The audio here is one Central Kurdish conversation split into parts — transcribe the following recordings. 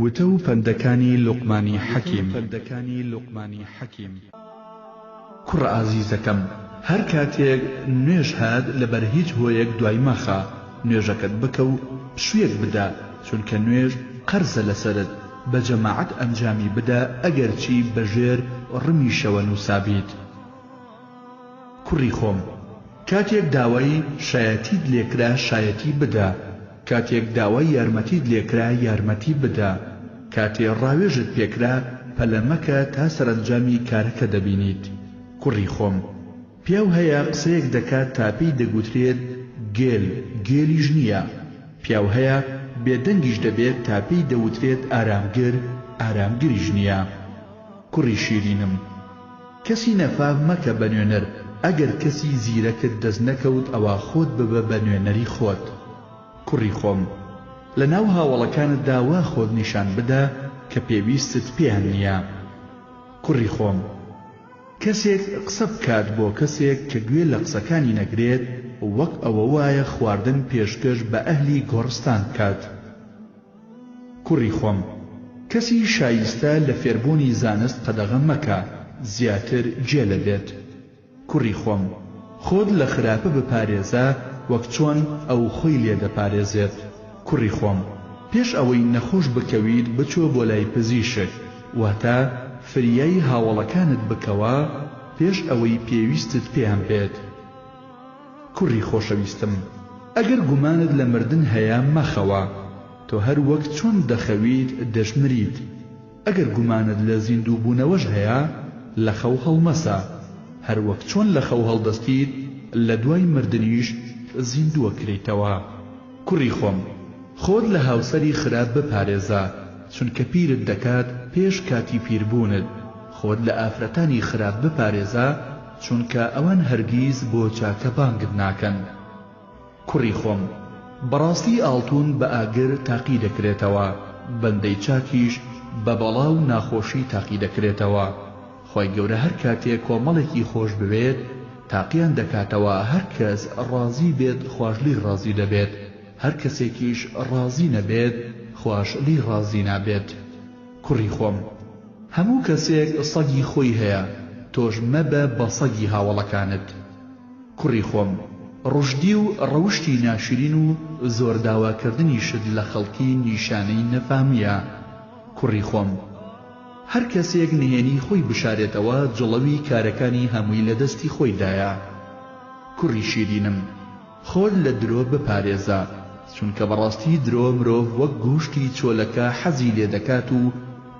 وتە و پەندەکانی لوقمانی حەکیم. کوڕە ئازیزەکەم هەر کاتێک نوێژ هات لەبەر هیچ هۆیەک دوای مەخە، نوێژەکەت بکە و پشوویەک بدە، چونکە نوێژ قەرزە لەسەرت، بە جەماعەت ئەنجامی بدە ئەگەرچی بە ژێر ڕمیشەوە نووسابیت. کوڕی خۆم کاتێک داوای شایەتیت لێکرا شایەتی بدە. کاتێک داوای یارمەتیت لێکرا یارمەتی بدە، کاتێ ڕاوێژت پێکرا پەلە مەکە تا سەرەنجامی کارەکە دەبینیت. کوڕی خۆم. پیاو هەیە قسەیەک دەکات تا پێی دەگوترێت گێل، گێلیش نییە. پیاو هەیە بێدەنگیش دەبێت تا پێی دەوترێت ئارامگر، ئارامگریش نییە. کوڕی شیرینم. کەسی نەفام مەکە بە نوێنەر ئەگەر کەسی زیرەکت دەست نەکەوت ئەوا خۆت ببە بە نوێنەری خۆت کوڕی خۆم لە ناو هاوەڵەکانتدا وا خۆت نیشان بدە کە پێویستت پێیان نییە کوڕی خۆم. کەسێک قسە بکات بۆ کەسێک کە گوێ لە قسەکانی نەگرێت وەک ئەوە وایە خواردن پێشکەش بە ئەهلی گۆڕستان بکات. کوڕی خۆم، کەسی شایستە لە فێربوونی زانست قەدەغە مەکە، زیاتر گێلە بێت. کوڕی خۆم، خۆت لە خراپە بپارێزە وەک چۆن ئەو خۆی لێ دەپارێزێت. کوڕی خۆم، پێش ئەوەی نەخۆش بکەویت بچۆ بۆ لای پزیشک، واتە فریای هاوەڵەکانت بکەوە پێش ئەوەی پێویستت پێیان بێت. کوڕی خۆشەویستم ئەگەر گومانت لە مردن هەیە مەخەوە، تۆ هەر وەک چۆن دەخەویت دەشمریت، ئەگەر گومانت لە زیندووبوونەوەش هەیە لە خەو هەڵمەسە، هەر وەک چۆن لە خەو هەڵدەستیت لە دوای مردنیش زیندووەکرێیتەوە. کوڕی خۆم خۆت لە هاوسەری خراپ بپارێزە، چونکە پیرت دەکات پێش کاتی پیربوونت، خۆت لە ئافرەتانی خراپ بپارێزە، چونکە ئەوان هەرگیز بۆ چاکە بانگت ناکەن کوڕی خۆم بەڕاستی ئاڵتون بە ئاگر تاقی دەکرێتەوە بەندەی چاکیش بە بەڵا و ناخۆشی تاقی دەکرێتەوە خوای گەورە هەر کاتێ کۆمەڵێکی خۆش بوێت تاقیان دەکاتەوە هەر کەس ڕازی بێت خواش لێی ڕازی دەبێت هەر کەسێکیش ڕازی نەبێت خواش لێی ڕازی نابێت. کوڕی خۆم هەموو کەسێک سەگی خۆی هەیە تۆش مەبە بە سەگی هاوەڵەکانت کوڕی خۆم ڕوشدی و ڕەوشتی ناشرین و زۆر داوا کردنیشت لە خەڵکی نیشانەی نەفامیە کوڕی خۆم هەر کەسێک نهێنی خۆی بشارێتەوە جڵەوی کارەکانی هەمووی لە دەستی خۆی دایە کوڕی شیرینم. خۆت لە درۆ بپارێزە چونکە بەڕاستی درۆ مرۆڤ وەک گووشتی چۆلەکە حەزی لێ دەکات و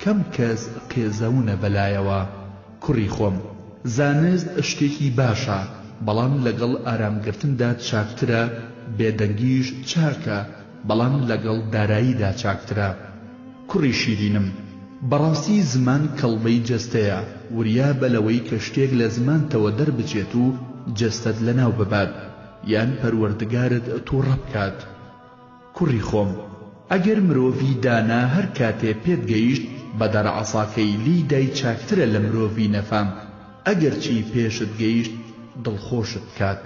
کەم کەس قێزەونە بەلایەوە کوڕی خۆم زانست شتێکی باشە بەڵام لەگەڵ ئارام گرتندا چاکترە بێدەنگیش چاکە بەڵام لەگەڵ داراییدا چاکترە. کوڕی شیرینم، بەڕاستی زمان کەڵبەی جەستەیە، وریابە لەوەی کە شتێک لە زمانتەوە دەربچێت و جەستەت لەناو ببات، یان پەروەردگارت تووڕە بکات. کوڕی خۆم، ئەگەر مرۆڤی دانا هەر کاتێ پێت گەیشت بە دار عەساکەی لێی دای چاکترە لە مرۆڤی نەفام ئەگەرچی پێشت گەیشت دڵخۆشت بکات.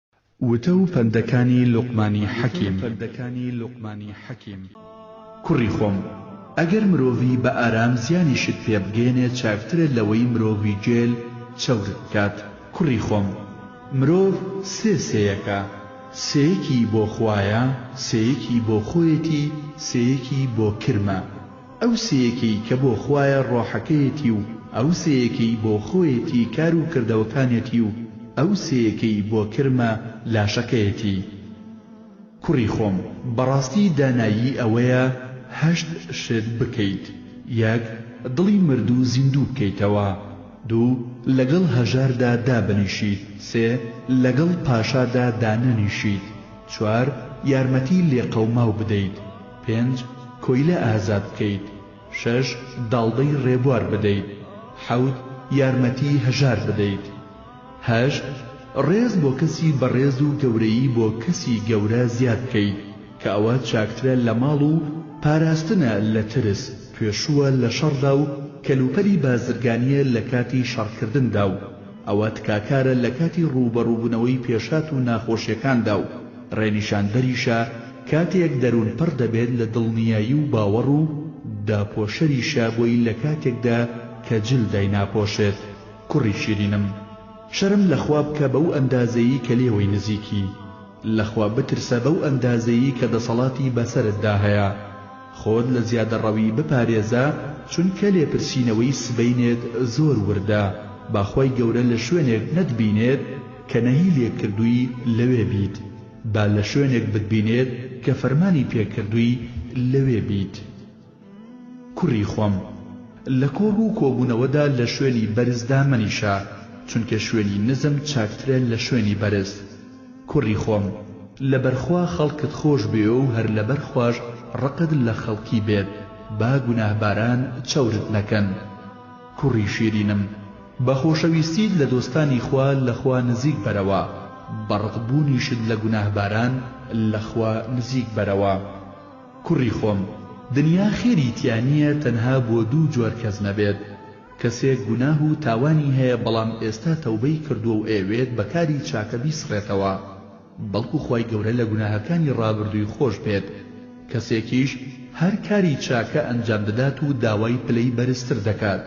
وتە و پەندەکانی لوقمانی حەکیم. کوڕی خۆم، ئەگەر مرۆڤی بە ئارام زیانیشت پێ بگەیەنێ چاکترە لەوەی مرۆڤی گێل چەورت بکات. کوڕی خۆم، مرۆڤ سێ سێیەکە، سێیەکی بۆ خوایە، سێیەکی بۆ خۆیەتی، سێیەکی بۆ کرمە. ئەو سێیەکەی کە بۆ خوایە ڕۆحەکەیەتی و ئەو سێیەکەی بۆ خۆیەتی کار و کردەوەکانیەتی و ئەو سێیەکەی بۆ کرمە لاشەکەیەتی کوڕی خۆم بەڕاستی دانایی ئەوەیە هەشت شت بکەیت یەک دڵی مردوو زیندوو بکەیتەوە دوو لەگەڵ هەژاردا دابنیشیت سێ لەگەڵ پاشادا دانەنیشیت چوار یارمەتی لێقەوماو بدەیت پێنج، کۆیلە ئازاد بکەیت. شەش، داڵدەی ڕێبوار بدەیت. حەوت، یارمەتیی هەژار بدەیت. هەشت، ڕێز بۆ کەسی بەڕێز و گەورەیی بۆ کەسی گەورە زیاد بکەیت، کە ئەوە چاکترە لە ماڵ و پاراستنە لە ترس، توێشووە لە شەڕدا و کەلوپەلی بازرگانییە لە کاتی شەڕکردندا و ئەوە تکاکارە لە کاتی ڕووبەڕووبوونەوەی پێشهات و ناخۆشییەکاندا و ڕێنیشاندەریشە کاتێک دەروون پڕ دەبێت لە دڵنیایی و باوەڕ و داپۆشەریشە بۆی لە کاتێکدا کە جل دایناپۆشێت. کوڕی شیرینم شەرم لە خوا بکە بەو ئەندازەیی کە لێوەی نزیکی. لە خوا بترسە بەو ئەندازەیی کە دەسەڵاتی بەسەرتدا هەیە. خۆت لە زیادەڕەوی بپارێزە چونکە لێپرسینەوەی سبەینێت زۆر وردە با خوای گەورە لە شوێنێک نەتبینێت، کە نەهی لێکردووی لەوێ بیت، با لە شوێنێک بتبینێت کە فەرمانی پێکردووی لەوێ بیت. کوڕی خۆم، لە کۆڕ و کۆبوونەوەدا لە شوێنی بەرزدا مەنیشە، چونکە شوێنی نزم چاکترە لە شوێنی بەرز. کوڕی خۆم، لەبەر خوا خەڵکت خۆش بوێ و هەر لەبەر خواش ڕقت لە خەڵکی بێت، با گوناهباران چەورت نەکەن. کوڕی شیرینم! بە خۆشەویستیت لە دۆستانی خوا لە خوا نزیک بەرەوە، بە ڕق بوونیشت لە گوناهباران لە خوا نزیک بەرەوە. کوڕی خۆم، دنیا خێری تیا نییە تەنها بۆ دوو جۆر کەس نەبێت، کەسێک گوناه و تاوانی هەیە بەڵام ئێستا تەوبەی کردووە و ئەیەوێت بە کاری چاکە بیسڕێتەوە، بەڵکو خوای گەورە لە گوناهەکانی ڕابردووی خۆش بێت، کەسێکیش هەر کاری چاکە ئەنجام دەدات و داوای پلەی بەرزتر دەکات،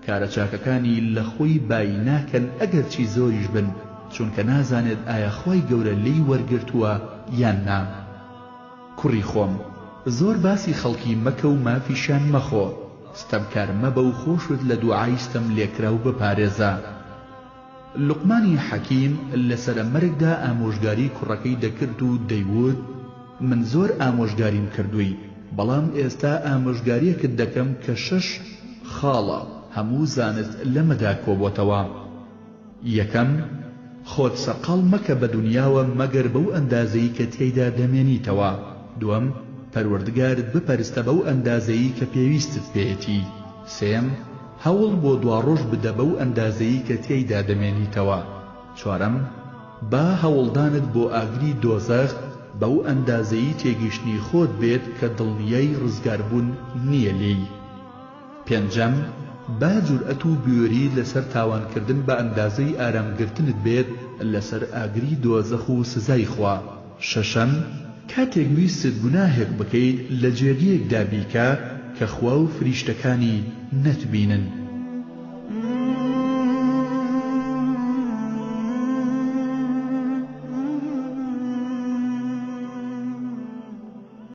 کارە چاکەکانی لە خۆی بایی ناکەن ئەگەرچی زۆریش بن، چونکە نازانێت ئایا خوای گەورە لێی وەرگرتووە یان نا. کوڕی خۆم، زۆر باسی خەڵکی مەکە و مافیشیان مەخۆ، ستەمکار مەبە و خۆشت لە دوعای ستەملێکراو بپارێزە. لوقمانی حەکیم لە سەرە مەرگدا ئامۆژگاری کوڕەکەی دەکرد و دەیووت، من زۆر ئامۆژگاریم کردووی، بەڵام ئێستا ئامۆژگاریەکت دەکەم کە شەش خاڵە، هەموو زانست لەمەدا کۆبۆتەوە. یەکەم، خۆت سەرقاڵ مەکە بە دونیاوە مەگەر بەو ئەندازەی کە تیایدا دەمێنیتەوە، دووەم، پەروەردگارت بپەرستە بەو ئەندازەی کە پێویستت پێیەتی، سێیەم، هەوڵ بۆ دواڕۆژ بدە بەو ئەندازەیی کە تیایدا دەمێنیتەوە. چوارەم، با هەوڵدانت بۆ ئاگری دۆزەخ بەو ئەندازەیی تێگەیشتنی خۆت بێت کە دڵنیای ڕزگاربوون نییە لێی. پێنجەم، با جورئەت و بوێریت لەسەر تاوانکردن بە ئەندازەی ئارامگرتنت بێت لەسەر ئاگری دۆزەخ و سزای خوا. شەشەم، کاتێک ویستت گوناهێک بکەیت لە جێگەیەکدا بیکە کە خوا و فریشتەکانی نەتبینن.